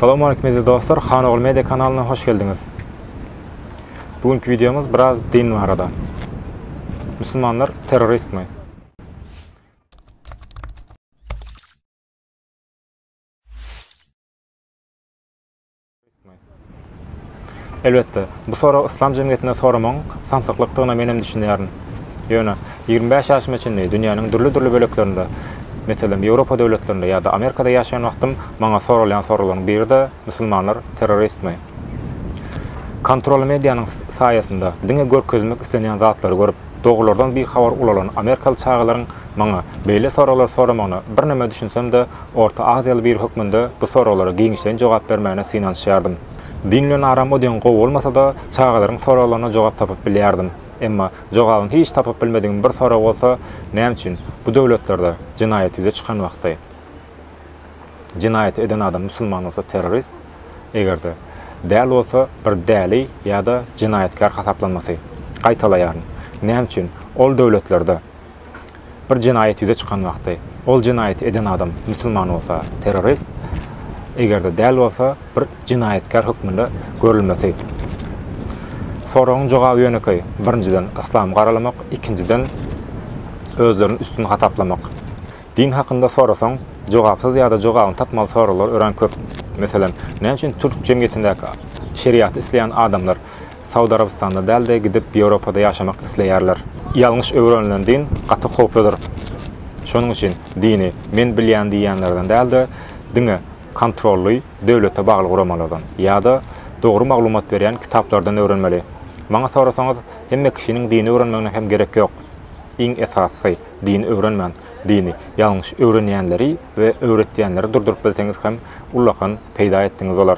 Salam aleyküm eziz dostlar, Han Ogul Media kanalyna hoş geldiňiz. Bugünkü videomuz biraz din barada. Müslümanlar terrorist mi? Elbetde, bu sorag yslam jemgyýetinde soramagyň samsyklykdygyna menem düşünýärin. Ýöne, ýigrimi bäş ýaşyma çenli dünýäniň dürli-dürli böleklerinde, meselem, Ýewropa döwletlerinde ýa-da Amerikada ýaşaýan wagtym maňa soralýan soraglaryň biri-de Musulmanlar terroristmi? Kontrolly medianyň saýasynda diňe görkezilmek islenýän zatlary görüp, dogrulardan bihabar ulalan amerikaly çagalaryň Maňa beýle soraglar soramagyna birneme düşünsem-de, orta aziýaly biri hökmünde bu soraglara giňişleýin jogap bermäne synanyşýardym. Dinlen aram o deň gowy bolmasa-da, çagalaryň soraglaryna jogap tapyp bilýärdim. Emma jogabyny hiç tapyp bilmedigim bir sorag bolsa, näme üçin bu döwletlerde jenaýat ýüze çykan wagty, jenaýaty eden adam musulman bolsa terrorist, eger-de däl bolsa bir däli ýa-da jenaýatkär hasaplanmasy? Gaýtalaýaryn, näme üçin ol döwletlerde Bir jenaýat ýüze çykan wagty, ol jenaýaty eden adam musulman bolsa, terrorist, eger-de däl bolsa, bir jenaýatkär hökmünde görülmesi. Soragyň jogaby ýönekeý, birinjiden, yslamy garalamak, ikinjiden, özlerini üstün hasaplamak. Din hakynda sorasaň, jogapsyz ýa-da jogabyny tapmaly soraglar örän köp. Meselem, näme üçin türk jemgyýetindäki şeriaty isleýän adamlar Saud Arabystanda dälde gidip Ýewropada ýaşamak isleýärler. Ýalňyş öwrenilen din gaty howpludyr. Şonuň üçin dini men bilýän diýýänlerden dälde diňe kontrolly döwlete bagly guramalardan ýada dogry maglumat berýän kitaplardan öwrenmeli. Maňa sorasaňyz hemme kişiniň dini öwrenmegine hem gerek ýok. Iň esasysy dini öwrenmän dini ýalňyş öwrenýänleri we öwretýänleri durduryp bilseňiz hem ullakan peýda etdiňiz bolar.